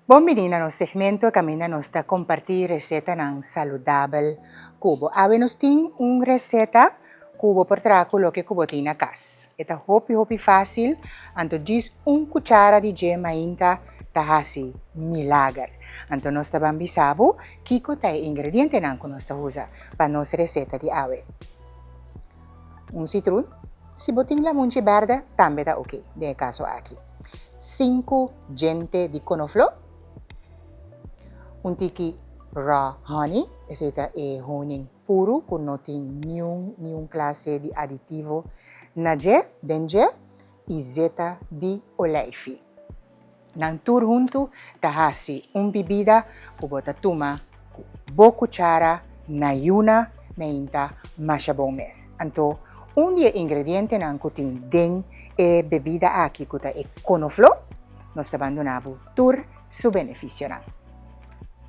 Bon bini na nos segmento kaminda nos ta kompartí resetanan saludabel ku bo. Awe nos tin un reseta ku bo por traha ku loke ku bo tin na kas. E ta hopi hopi fásil, anto djis un kuchara di dje mainta ta hasi milager. Anto nos ta ban bisa bo kiko ta e ingredientenan ku nos ta usa pa nos reseta di awe. Un sitrun, si bo tin lamunchi berde, tambe ta oke den e kaso aki. Sinku djente di konofló. Un tiki raw honey, esei ta e honing puru ku no tin niun niun klase di aditivo na dje, den dje, i zeta di olijfi. Nan tur huntu ta hasi un bibida ku bo ta tuma ku bo kuchara na yuna meinta masha bon mes. Anto, un di e ingredientenan ku tin den e bebida aki ku ta e konofló, nos ta ban duna bo tur su benefisionan.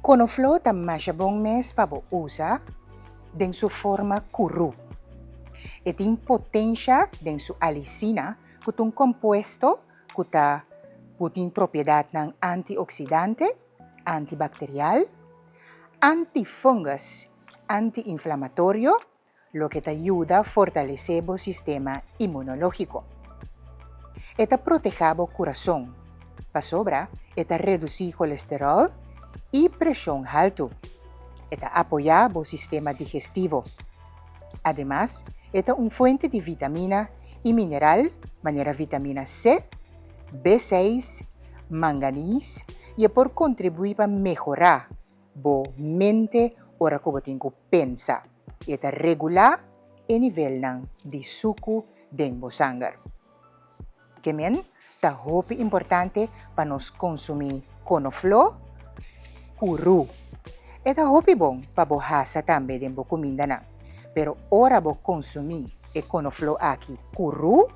Konofló ta masha bon mes pa bo usa den su forma kurú. E tin potensha den su alicina ku ta un kompuesto ku ta ku tin propiedatnan antioksidante, antibakterial, antifungus, antiinflamatorio, loke ta yuda fortalesé bo sistema imunológiko. E ta protehá bo kurason, pasobra e ta redusí kolesteròl i preshon haltu. E ta apoyá bo sistema digestivo. Ademas, e ta un fuente di vitamina i mineral manera vitamina C, B seis, manganis i e por kontribuí pa mehorá bo mente ora ku bo tin ku pensa i e ta regulá e nivelnan di suku den bo sanger. Kemen ta hopi importante pa nos konsumí konofló ku rú. E ta hopi bon pa bo hasa tambe den bo kumindanan. Pero ora bo konsumí e konofló aki ku rú,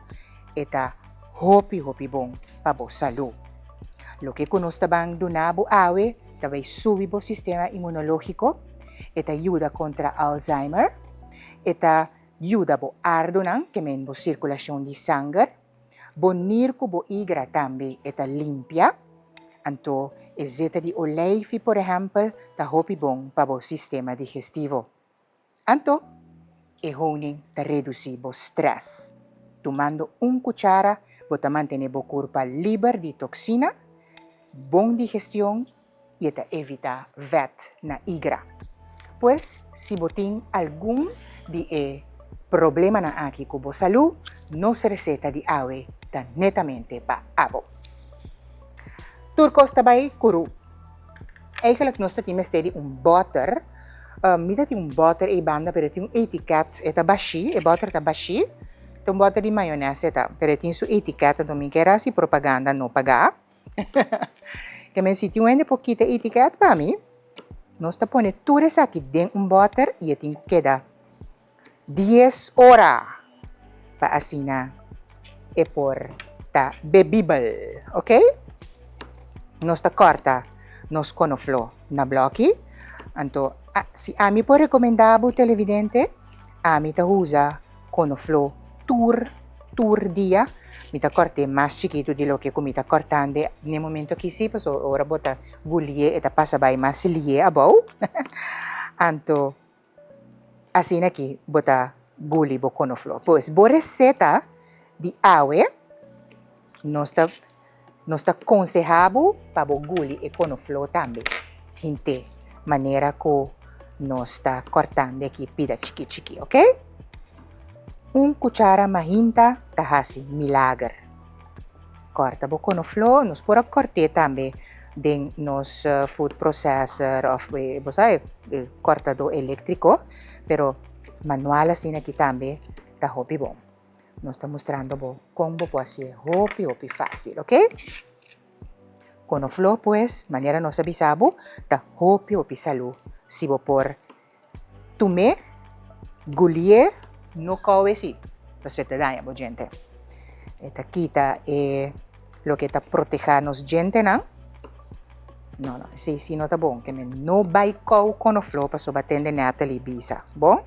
e ta hopi hopi bon pa bo salú. Loke ku nos ta ban duna bo awe ta bai subi bo sistema inmunológiko, e ta yuda kontra Alzheimer, e ta. Yuda bo ardunan temen bo sirkulashon di sanger, bo nir ku bo igra tambe e ta limpia. Anto, e zeta di oleifi, por ehèmpel, ta hopi bon pa bo sistema digestivo. Anto, e honing ta redusí bo strès. Tumando un kuchara bo ta mantené bo kurpa liber di toksina, bon digestion y e ta evita wet na igra. Pues si bo tin algun di e problemanan aki cu bo salu, nos receta di awe ta netamente pa abo. Tur cos ta bay cu ru. Eigenlijk nos ta tin mester di un botter, mi ta tin un botter ey banda pero e tin un etiket, e ta bashi, e botter ta bashi, ta un botter di mayones e ta, pero e tin su etiket, enton mi quier haci propaganda no paga. Ke men sitio hende por kita e etiket pa mi, nos ta pone tur esaki den un bòter i e tin ku keda dies ora pa asina e por ta bebibel, ok? Nos ta kòrta nos konofló na blòki, anto si ami por rekomendá bo televidente, ami ta usa Konofló. Tur, tur dia mi ta kòrt'é mas chikitu di loke ku mi ta kòrtande n'e momentu aki sí, paso ora bo ta guli'é e ta pasa bai mas li'é abou. Anto asina ki bo ta guli bo konofló. Pues bo reseta di awe. Nos ta konseha bo pa bo guli e konofló tambe, hint'é manera ku nos ta kòrtando aki pida chikí chikí, ok? Un kuchara mahinta ta hasi milager. Kòrta bo konofló, nos por a kòrt'é tambe den nos food processor òf bosa e kòrtadó eléktriko, pero manual asina aki tambe ta hopi bon. Nos ta mustrando bo kon bo por hasié hopi hopi fásil, ok? Konofló pues, manera nos a bisa bo, ta hopi hopi salú. Si bo por tum'é, gulié, no kò'e si, pasobra ta daña bo djente. E ta kita e. Loke ta protehá nos djentenan? No, no, esei sí no ta bon. Ke men no bai kou konofló pasobra tende Natalie bisa. Bon?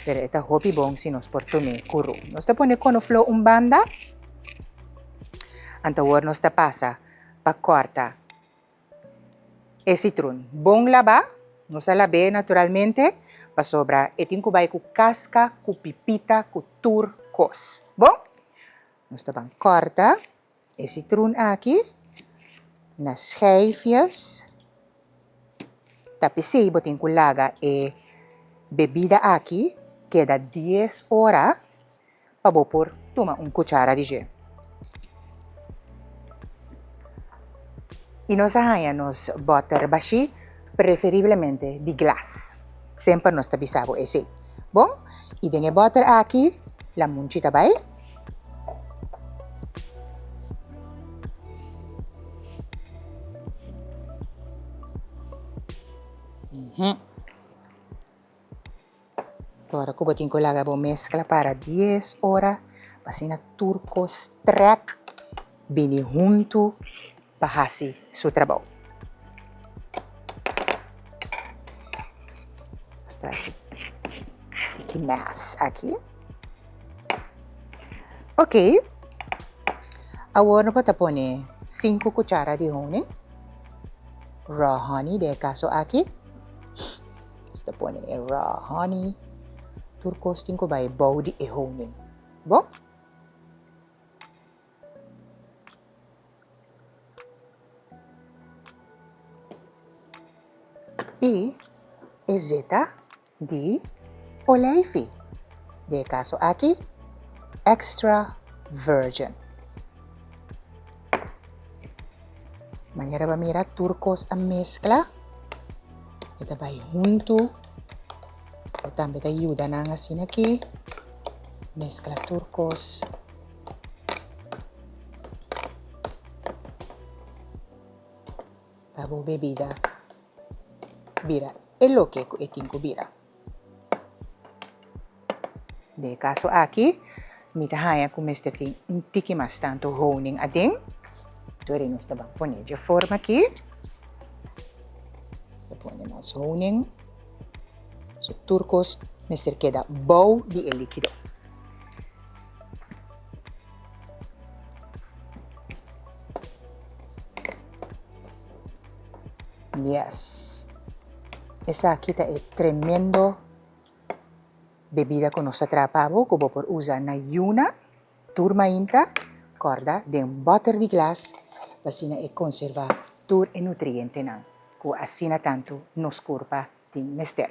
Pero e ta hopi bon si nos por tum'é kurú. Nos ta pone konofló un banda, antawor nos ta pasa pa kòrta e sitrun bon labá. Nos a lab'é naturalmente pasobra e tin ku bai ku kaska, ku pipita, ku tur kos. Bon? Nos ta ban kòrta e sitrun aki na scheifjes, ta p'esei bo tin ku laga e bebida aki keda dies ora pa bo por tuma un kuchara di dje. I nos a haña nos bòter bashí. Preferiblemente di glas. Semper nos ta bisa bo esei. Bon, y den e butter aki la munchi ta bay. Umm. Ora cu bo tin cu laga bo mezcla para dies ora, asina tur cos trek bini hunto pa haci su trabou. Nos ta haci tiki mes aki. Ok, awor no por ta pone sinku cuchara di honing, raw honey den e caso aki. Si ta pone e raw honey, tur kos tin ku bai bou di e honing. Bo? I e zeta di olijfi, den e kaso aki extra virgin. Manera bo a mira tur kos a meskla, e ta bai huntu, bo tambe ta yuda nan asina aki, meskla tur kos. Pa bo bebida bira e loke ku e tin ku bira. Den e caso aki, mi ta haña cu mester tin un tiki mas tanto honing aden. Tur e nos ta ban pone dje forma aki. Nos ta pone mas honing. So tur cos mester keda bou di e likido. Yes. Esaki ta e tremendo bebida ku nos ta traha pa bo ku bo por usa na yuna, tur mainta, kòrda den un bòter di glas pa asina e konservá tur e nutrientenan ku asina tantu nos kurpa tin mester.